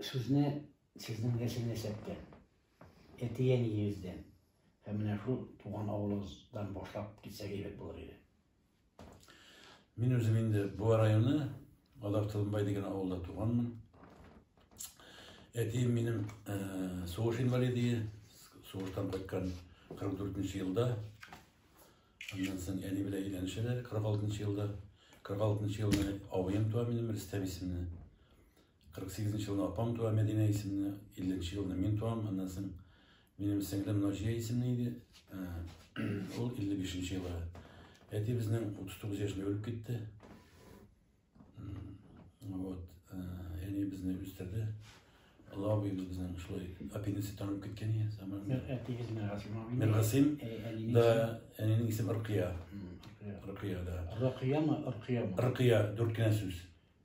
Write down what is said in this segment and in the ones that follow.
Сүзне сезнең дәсен ясәттән, әтиен йөздән, һәм менә шул туган авылыгыздан башлап китсәк әйбәт булыр иде. Мин үзем инде Буа районы, Алар Тылымбай дигән авылда туганмын. Әтием минем э, сугыш инвалиды, сугыштан кайткан 44 елда. Аннан соң әни белән өйләнешәләр 46 елда. 46 елда абыем туа минем Рөстәм исемле. 48 нче елны апам туа, Мәдинә исемле, 50 нче елны мин туам, аннан соң минем сеңлем Наҗия исемле иде, ул 55 нче елы. Әти безнең 39 яшьле үлеп китте. Вот, әни безне үстерде. Лавы безнең шулай апенисит танып киткән иде, саман. Әтигез Миргасим абый. Миргасим. Да, әнинең исеме Рыкия. Рыкия да. Рыкиямы, Рыкиямы? Рыкия, дүрт кенә сүз.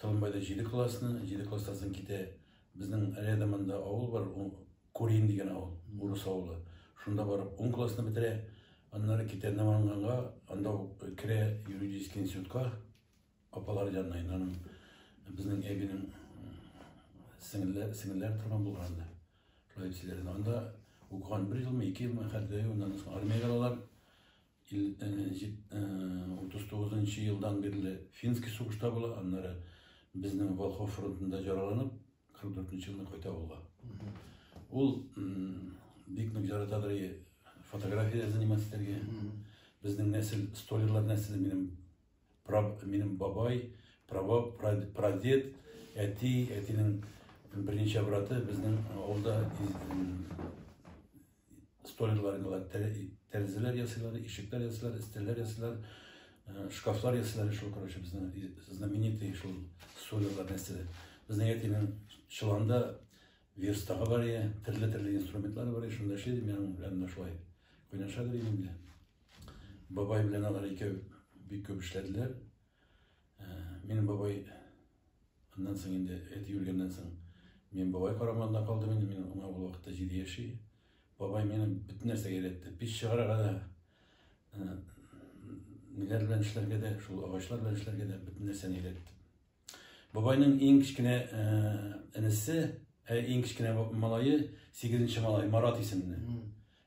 Тылымбайда җиде классны, җиде класстан соң китә. Безнең рядомында авыл бар, Курин дигән авыл, урыс авылы. Шунда барып ун классны бетерә. Аннары китә Наманганга, анда ук керә юридический институтка. Апалар янына инде аның безнең әбинең сеңелләр, сеңелләр торган булган анда. Шулай дип сөйләде. Анда укыган бер елмы, ике елмы, хәтерләмим, аннан соң армиягә алалар. 39 нчы елдан бирле финский сугышта була, аннары безнең Волхов фронтында җараланып, 44 нчы елны кайта авылга. Ул бик нык яратадыр и фотография заниматься итәргә. Безнең нәсел, столерлар нәселе минем Минем бабай, прабаб, прадед, әти, әтинең берничә браты безнең авылда столярлар иде алар. Тәрәзәләр ясыйлар, ишекләр ясыйлар, өстәлләр ясыйлар, э, шкафлар ясыйлар шул, короче, безнең знаменитый шул столярлар нәрсәләр. Безнең әтинең чыланда верстагы бар иде, төрле-төрле инструментлар бар иде, шунда эшли иде, мин аның белән шулай кайнаша идем инде. Бабай белән алар икәү бик күп эшләделәр. Ә, минем бабай аннан соң инде әти үлгәннән соң мин бабай карамагында калдым инде, мин аңа ул вакытта җиде яши. Бабай мине бөтен нәрсәгә өйрәтте. Пич чыгарырга да, ә, ниләр белән эшләргә дә, шул агачлар белән эшләргә дә бөтен нәрсәне өйрәтте. Бабайның иң кечкенә энесе, ә иң кечкенә малае, сигезенче малай, Марат исемле.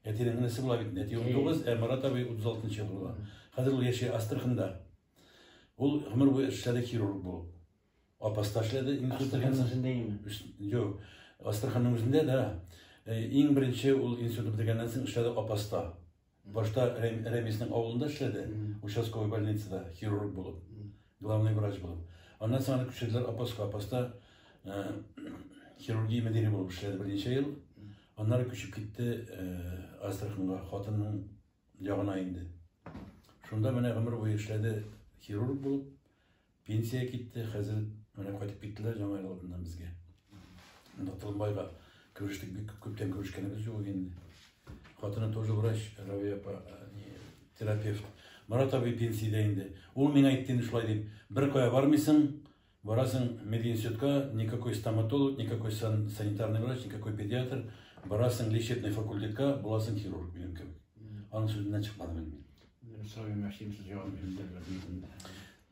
Әтинең энесе була бит, әти 19, ә Марат абый 36 елда була. Хәзер ул яши Астраханда. Ул гомер буе эшләде хирург булып. Апаста эшләде. Астраханның үзендәме? Юк. Астраханның үзендә, да. Иң беренче ул институт бетергәннән соң эшләде Апаста. Башта Рәмиснең авылында эшләде, участковый больницада хирург булып, главный врач булып. Аннан соң аны күчерделәр Апаска. Апаста хирургия мөдире булып эшләде берничә ел. Аннары күчеп китте Астраханга, хатынның ягына инде. Шунда менә гомер буе эшләде хирург булып. Пенсия китте, хәзер менә кайтып киттеләр Яңа ел алдыннан безгә. Монда Толымбайга күрештек, бик күп күптән күрешкәнебез юк иде инде. Хатыны тоже врач, Равия апа, э, не, терапевт. Марат абый пенсиядә инде. Ул миңа әйтте инде шулай дип, бер кая бармыйсың, барасың мединститутка, никакой стоматолог, никакой сан- санитарный врач, никакой педиатр, барасың лечебный факультетка, буласың хирург минем кебек. Аның сүзеннән чыкмадым инде мин. Сорый мәшин сез җавап бирдегез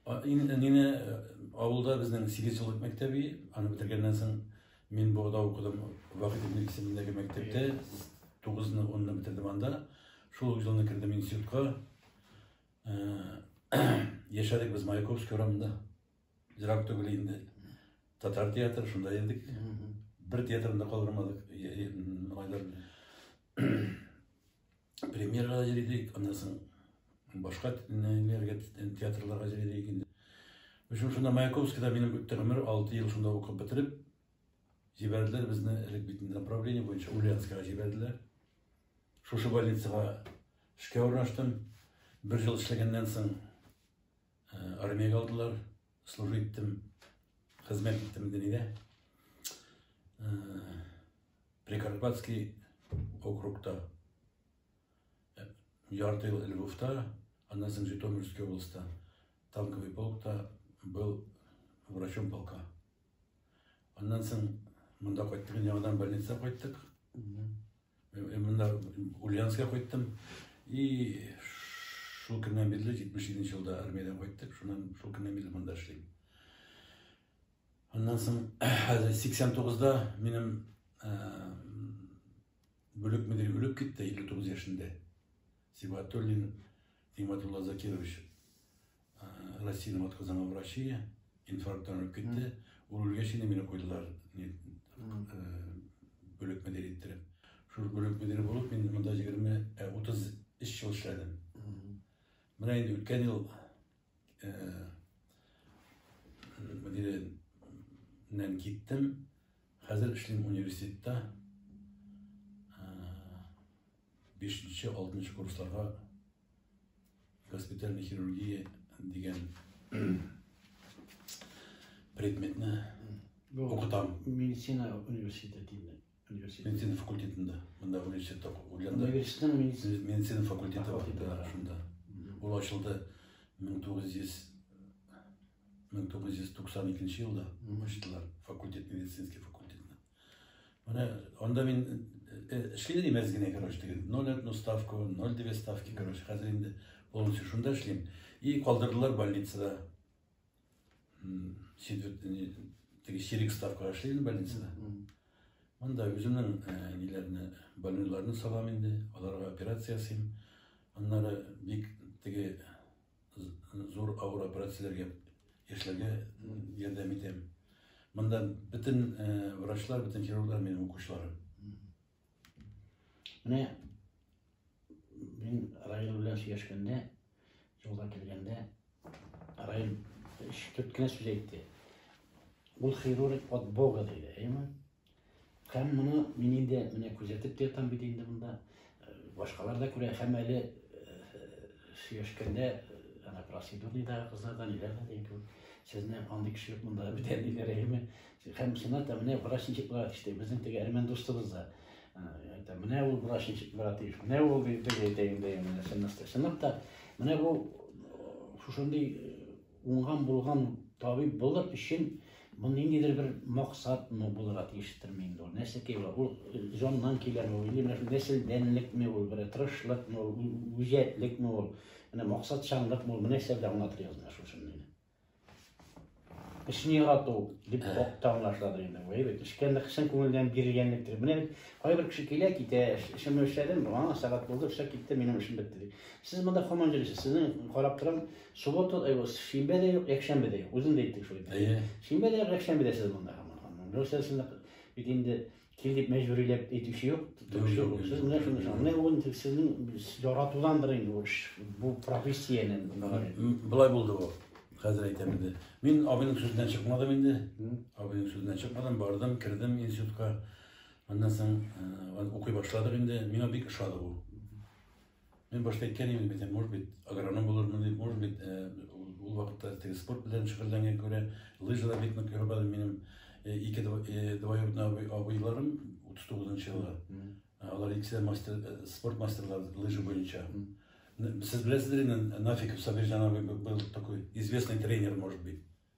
бер Инде нене авылда безнең сигез еллык мәктәби, аны бетергәннән соң мин Богда укыдым, Вахит ибн исемендәге мәктәптә, 9-ны, 10-ны бетердем анда. Шул ук елны кердем институтка. Яшәдек без Маяковский урамында. Ерак түгел инде. Татар театры шунда йөрдек. Бер театрында калдырмадык. премьерага җыйдык, аннан соң башка нәниләргә театрларга җыйдык инде. Өчен шунда Маяковскийда минем үтте гомер, 6 ел шунда укып бетереп, җибәрделәр безне элек бит направление буенча Ульяновскага җибәрделәр. Шушы больницага эшкә урнаштым. Бер ел эшләгәннән соң Армиягә алдылар, служба иттем, хезмәт иттем дөньяда. Прикарпатский округта ярты ел Львовта, аннан соң Житомирский областьта танковый полкта был врачом полка. Аннан соң монда кайттык, яңадан больница кайттык. Монда Ульянска кайттым. И шул көннән бирле 77 нче елда армиядән кайттык. Шуннан шул көннән бирле монда эшлим. Аннан соң 89-да минем бүлек мөдире үлеп китте 59 яшендә. Сибатуллин Тиматулла Закирович Россиянең атказанган врачы инфаркттан үлеп китте. Ул үлгәч инде мине куйдылар бүлек мөдире иттереп. Шул бүлек мөдире булып мин монда 20-30 эш ел эшләдем. Менә инде үткән ел мөдиреннән киттем. Хәзер эшлим университетта. Бишенче-алтынчы курсларга госпитальный хирургия дигән предметны укытам. Медицина университетында. Медицина факультетында. Монда университет укыганда. Медицина медицина факультеты бар шунда. Ул ачылды 1900 1992 елда ачтылар факультет, медицинский факультетны. Менә анда мин эшлим дим әз генә, короче, диген. 0,1 ставка, 0,2 ставки, короче, хәзер инде полностью шунда эшлим. И калдырдылар больницада. Сидвертне, теге сирик ставка эшлим больницада. Монда үземнең ниләрне, больниларны салам инде, аларга операция ясыйм. Аннары бик теге зур авыр операцияләргә яшьләргә ярдәм итәм. Монда бөтен э, врачлар, бөтен хирурглар минем укучыларым. Менә мин Раил белән сөйләшкәндә, юлга килгәндә, Раил ишетеп кенә сүз әйтте. Ул хирург от Бога диде, әйме? Һәм моны мин инде менә күзәтеп тә ятам бит инде монда. Э, башкалар да күрә, һәм әле э, сөйләшкәндә ана процедурныйдагы кызларда ниләр дә дигән кебек. Сезне андый кеше юк монда бит әниләр әйеме. Һәм сына да менә врач ничек буларак эшли. Безнең теге әрмән дустыбыз да. Ә, менә ул врач ничек буларак тиеш. Менә ул дип әйтә инде. Менә сынып та. Менә бу шушындый Уңган булган табиб булыр өчен бу ниндидер бер максат ну булырга тиештерме инде ул? Нәрсә ки ул? Ул э, җаннан киләме ул? Или нәселдәнлекме ул? Бер тырышлыкмы ул? Үҗәтлекме ул? Менә максатчанлыкмы ул? Нәрсә белән аңлатыр язына шушыны инде. Эшне ярату дип та аңлашладыр инде. Әй бит, эшкәнлек, чын күңелдән бирелгәнлектер. Менә кайбер кеше килә, китә, эшемне эшләдем, аңа сәгать булды, эшләп китте, минем эшем бетте. Сез монда командир, сезнең карап торам, Суббота, э, шимбә дә юк, якшәмбе дә юк. Үзең дә әйттең шул. Әйе. Шимбә дә юк, якшәмбе дә сез монда һаман. Русия син бит инде кил дип мәҗбүриләп әйтүче юк. Сез менә шуны шуны. Менә ул сезнең яратудандыр инде бу эш. Бу профессияне. Былай булды бу. Хәзер әйтәм инде. Мин абыйның сүзеннән чыкмадым инде. Абыйның сүзеннән чыкмадым, бардым, кердем институтка. Аннан соң э, укый башладык инде. Миңа бик ошады бу. Мин башта әйткән идем бит, может быть, агроном булырмын дип, может быть, ул вакытта теге спорт белән шөгыльләнгән күрә, лыжада бик нык йөреп алдым минем ике двоюродный абыйларым 39 еллар. Алар икесе мастер спорт мастерлар лыжа буенча. Сез беләсездер инде Нафиков Сабирҗан абый был такой известный тренер, может быть.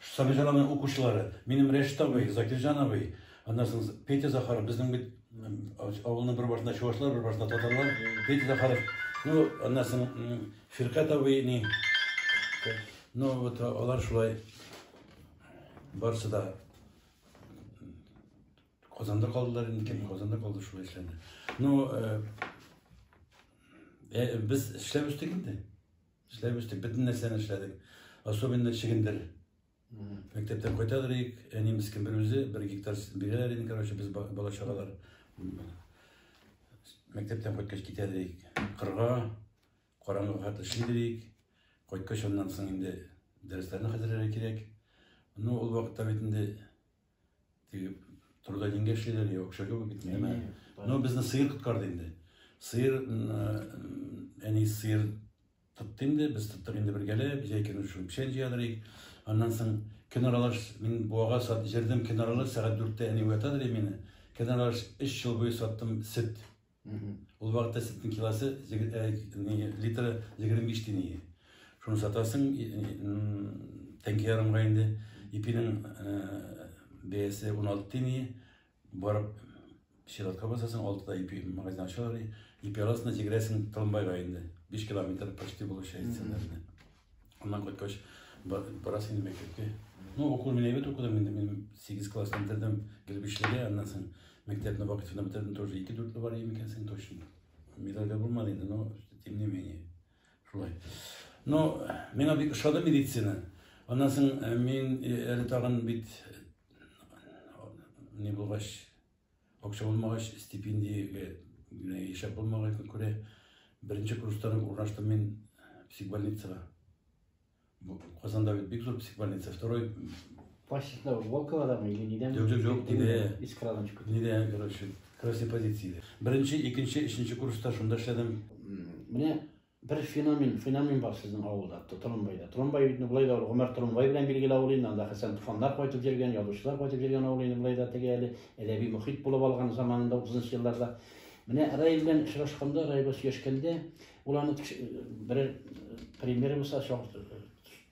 Сабитованың укучылары, минем Рәшит абый, Закирҗан абый, аннан соң Петя Захаров, безнең бит авылның бер башында чувашлар, бер башында татарлар, Петя Захаров, ну, аннан соң Фиркат абый, ни, ну, вот алар шулай барысы да Казанда калдылар, инде кем Казанда калды шулай эшләнде. Ну, э, э, без эшләп үстек инде. Эшләп эчтек, бөтен нәрсәне эшләдек. Особенно чегендер. Мәктәптән кайта торыйк, әни мискин бер үзе, бер гектар бирәләр инде, короче, без бала чагалар. Мәктәптән кайткач китә торыйк. Кырга, караңгы хат эшли торыйк. Кайткач аннан соң инде дәресләрне хәзерләргә кирәк. Ну, ул вакытта бит инде Теге турыда дингә эшлиләр, я акча кебек бит, нәмә. Әйе, бар. Ну, безне сыер коткарды инде. Сыер, м, э, әни сыер тотты инде, без тоттык инде бергәләп, җәй көне шул печән җыядырыйк. Аннан соң көн аралаш, мин буага сат, җырдым көн аралаш, сәгать дүрттә әни уятадыр и мине. Көн аралаш өч ел буе саттым сөт. Ул вакытта сөтнең килосы литры егерме биш тиен иде. Шуны сатасың тәңке ярымга инде. Ипинең бәясе он алты тиен иде. Барып сиратка басасың, алтыда ипи магазин ачалар. Ипи аласың да җигерәсең Тылымбайга инде. Биш километр почти булып чәй Аннан кайткач, барасы инде мәктәпкә. Ну, укуын мин әйбәт укыдым инде, мин 8 класс бетердем Гелбишлегә, аннан соң мәктәпне вакытында бетердем, тоже 2 дүртле бар идем икәнсең точно. Медальдә булмады инде, но тем не менее. Шулай. Но миңа бик ошады медицина. Аннан соң э, мин э, әле тагын бит не булгач Акча булмагач, стипендия генә яшәп булмаганга күрә, беренче курстан урнаштым мин психбольницага. Казанда бит бик зур психбольница, второй... Почтасында Волковадамы или нидән? Юк, юк, юк, тиде. Из Крадончика. Нидә, короче, красный позиция. Беренче, икенче, өченче курста шунда эшләдем. Менә Бер феномен, феномен бар сезнең авылда, Тромбайда. Тромбай бит болай да Гомәр Тромбай белән билгеле авыл инде, анда Хәсән Туфаннар кайтып йөргән, язучылар кайтып йөргән авыл инде болай да теге әле әдәби мөхит булып алган заманында 30 елларда. Менә Рай белән очрашканда, Рай белән сөйләшкәндә, ул аны берәр пример булса,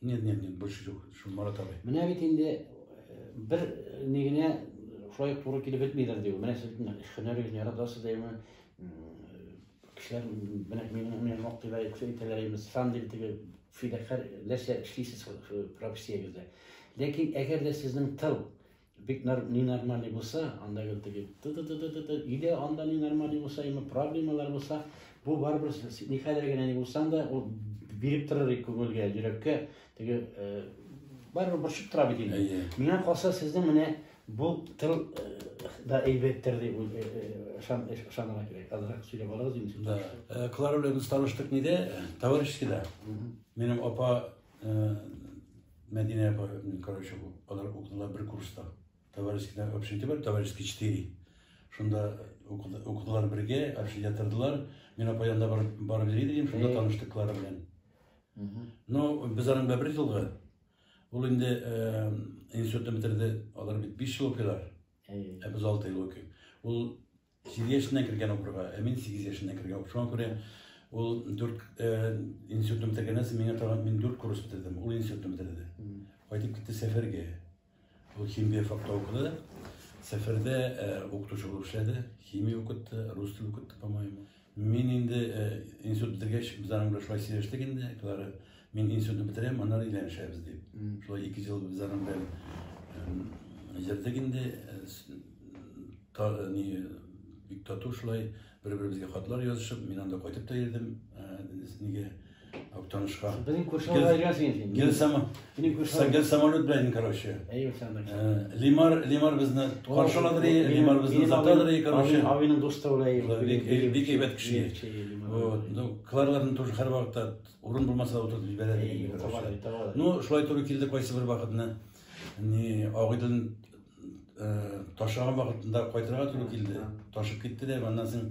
Нет, нет, нет, больше жоқ, шул Марат абый. Менә бит инде э, бер э, ни генә шулай туры килеп бетмиләр ди. Менә сез һөнәрегезне яратасыз димме? Кешеләр менә мине менә мактыйлар, күсә итәләр инде. Сан дип теге фидакар нәрсә эшлисез профессиягездә. Ләкин әгәр дә сезнең тыл Бик нар, ни нормальный булса, анда гел теге ты-ты-ты-ты-ты, өйдә анда ни нормальный булса, яме проблемалар булса, бу барыбер с- ни хәлдә генә ни булсаң да, ул биреп торыр и күңелгә, йөрәккә, теге э, барыбер борчып тора бит инде. Әйе. Миңа калса, сезнең менә бу тел э, да әйбәттер дип уй- э, э, ышан- э, ышанырга кирәк. Азрак сөйләп алыгыз инде. Да. Э, Клара белән без таныштык ниде? Товарищескийда. Минем апа Мәдинә апа, короче, алар укыдылар бер курста. Товарищескида общежитие бар, товарищеский 4. Шунда укыдылар бергә, общежитие тордылар. Мин апа янында бар, бар идем, шунда таныштык Клара белән. Ну, без аның белән бер елга. Ул инде институтны бетерде, алар бит 5 ел укыйлар. Ә без 6 ел укыйк. Ул Сигез яшеннән кергән укырга, ә мин сигез яшеннән кергән укырга. Шуңа күрә ул дүрт институтны бетергәннән соң миңа тагын мин дүрт курс бетердем. Ул институтны бетерде. Кайтып китте сәфәргә. Ул химия факта укыды. Сәфәрдә укытучы булып эшләде. Химия укытты, рус теле укытты, по-моему. Мин инде институт бетергәч, без аның белән шулай сөйләштек инде, Клара, мин институтны бетерәм, аннары өйләнешәбез дип. Шулай ике ел без аның белән йөрдек инде, ни, бик тату шулай, бер-беребезгә хатлар язышып, мин анда кайтып та йөрдем, нигә, Актанышка. Безнең курсларга йөргәнсең син. Гел сама. Минем курслар. Гел самолет белән короче. Әйе, самолет. Э, Лимар, Лимар безне каршылады, Лимар безне затады, короче. Авиның дусты улай. Бик әйбәт кеше. Вот, ну, Кларларны тоже һәр вакытта урын булмаса утырып җибәрә. Э, ну, шулай туры килде кайсы бер вакытны. Ни, агыйдын э, ташаган вакытында кайтырга туры килде. Ташып китте дә, аннан соң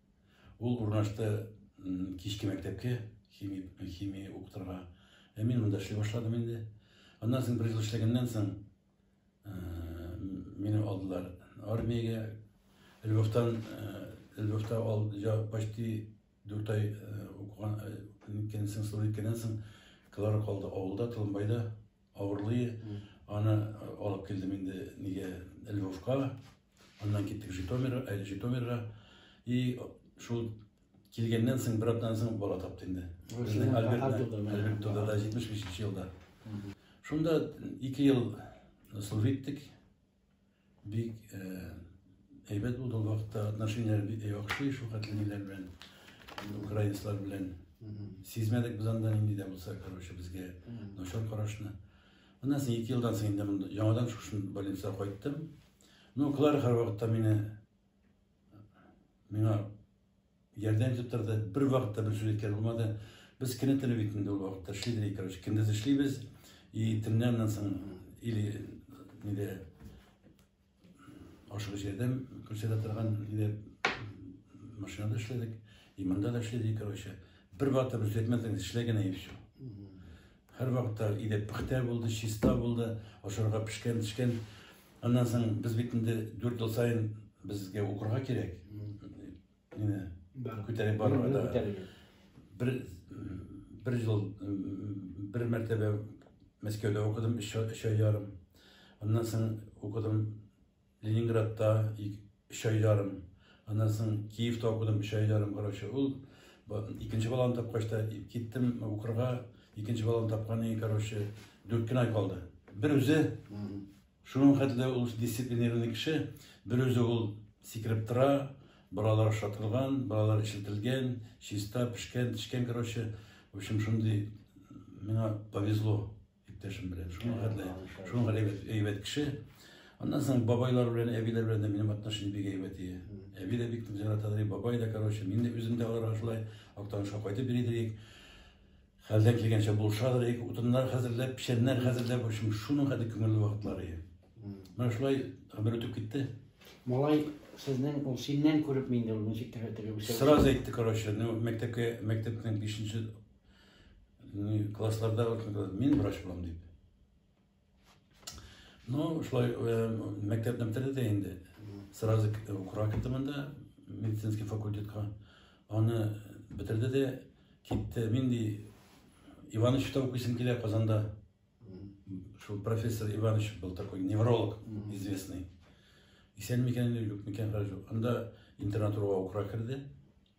Ул урнашты кичке мәктәпкә, химия, химия укытырга. Ә мин монда эшли башладым инде. Аннан соң бер ел эшләгәннән соң э, мине алдылар армиягә. Львовтан э, Львовта ал, я, почти дүрт ай э, укыган, э, кенсен, кенсен, калар калды авылда, Толымбайда. Авырлые, аны алып килдем инде нигә Львовка, аннан киттек Житомирга, әле э, Житомирга. И шул килгәннән соң бер атнадан соң бала тапты инде. Безнең Альберт туда да 75 елда. Шунда ике ел служиттек, Бик әйбәт булды ул вакытта, отношенияләр бик яхшы, шул хәтле ниләр белән, украинецлар белән. Сизмәдек без анда нинди дә булса, короче, безгә начар карашны. Моннан соң ике елдан соң инде яңадан шушы больницага кайттым. Ну, Клара һәрвакытта мине миңа Ярдәм итеп торды. Бер вакытта бер сүз әйткән булмады. Без кенә теле бит инде ул вакытта эшлидер, короче, көндез эшлибез. И төннән аннан соң или нидә ашыгыч ярдәм күрсәтә торган иде. Машинада эшләдек, и монда да эшләдек, короче. Бер вакытта бер сүз әйтмәдек, эшләгән и все. Һәрвакытта өйдә пөхтә булды, чиста булды, ашарга пешкән-төшкән. Аннан соң без бит инде дүрт ел саен безгә укырга кирәк. Менә күтәреп барырга да. Бер бер ел бер мәртәбә Мәскәүдә укыдым, өч ай ярым. Аннан соң укыдым Ленинградта өч ай ярым, аннан соң Киевта укыдым өч ай ярым, короче, ул икенче баланы тапкач та киттем укырга, икенче баланы тапканнан короче, дүрт кенә ай калды. Бер үзе шуның хәтле ул дисциплинированный кеше, бер үзе ул сикереп тора, балалар ашатылган, балалар эчелтелгән, чиста, пешкән, тешкән, короче, в общем, шундый миңа повезло. Иптәшем белән шуңа хәтле, шуңа әйбәт, әйбәт кеше. Аннан соң бабайлар белән, әбиләр белән дә минем отношение бик әйбәт иде. Әби дә бик ярата ди, бабай да, короче, мин дә үзем дә аларга шулай Актанышка кайтып йөри идек. Хәлдән килгәнчә булыша идек, утыннар хәзерләп, печәннәр хәзерләп, в общем, шуның хәтле күңелле вакытлар иде. Менә шулай гомер үтеп китте. Малай сезнең ул синнән күреп мин дә ул ничек тәгәрәтергә үсә. Сразу әйтте, короче, ну мәктәпкә мәктәпнең 5 нче классларда мин врач булам дип ну шулай мәктәпне бетерде дә инде сразу укырга киттем анда медицинский факультетка аны бетерде дә китте нинди ивановичта укыйсың килә казанда шул профессор иванович был такой невролог известный исән микән юк микән хәл анда интернатураға укырга керде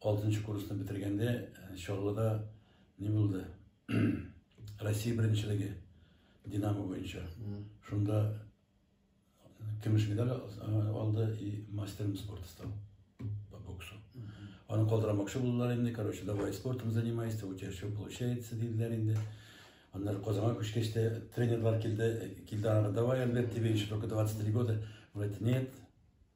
Алтынчы курсны бетергәндә Чаллыда ни булды? Россия беренчелеге Динамо буенча. Шунда көмеш медаль алды и мастером спорта стал по боксу. Аны калдырамакчы булдылар инде, короче, давай спортом занимайся, у тебя все получается, диделәр инде. Аннары Казанга күчкәч тә тренерлар килде, килде аңа, давай, Альберт, тебе еще только 23 года. Он говорит, нет,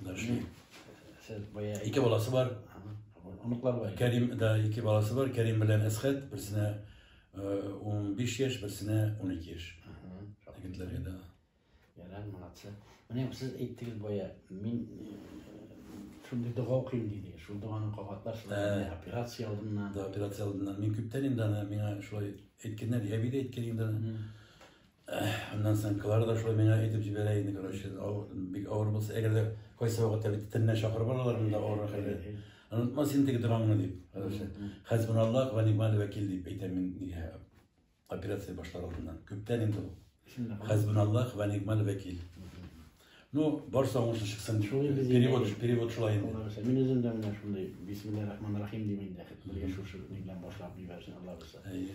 Дәшми. Сез бая ике баласы бар. Оныклар бар. Кәрим да ике баласы бар. Кәрим белән Әсхәт берсенә 15 яшь, берсенә 12 яшь. Егетләргә да. Ярар, молодцы. Менә сез әйттегез бая, мин шундый дога укыйм диде. Шул доганы кабатлар, шул операция алдыннан. Да, операция алдыннан. Мин күптән инде аны миңа шулай әйткәннәр, әби дә әйткән инде. Аннан соң Клара да шулай миңа әйтеп җибәрә инде, короче, бик авыр булса, әгәр дә кайсы вакытта бит теннә чакырып алалар монда авыррак хәлдә. Онытма син теге догаңны дип, короче. Хәсбуналлах ва ни'мал вәкил дип әйтәм мин нигә операция башлар алдыннан. Күптән инде ул. Хәсбуналлах ва ни'мал вәкил. Ну, барысы аңлашлы чыксын дип. Шулай без перевод, инде. перевод шулай инде. Алла бирсә, мин үзем дә менә шундый бисмиллаһи рахмани рахим дип инде бергә шушы ни белән башлап җибәрсен Алла бирсә. Әйе.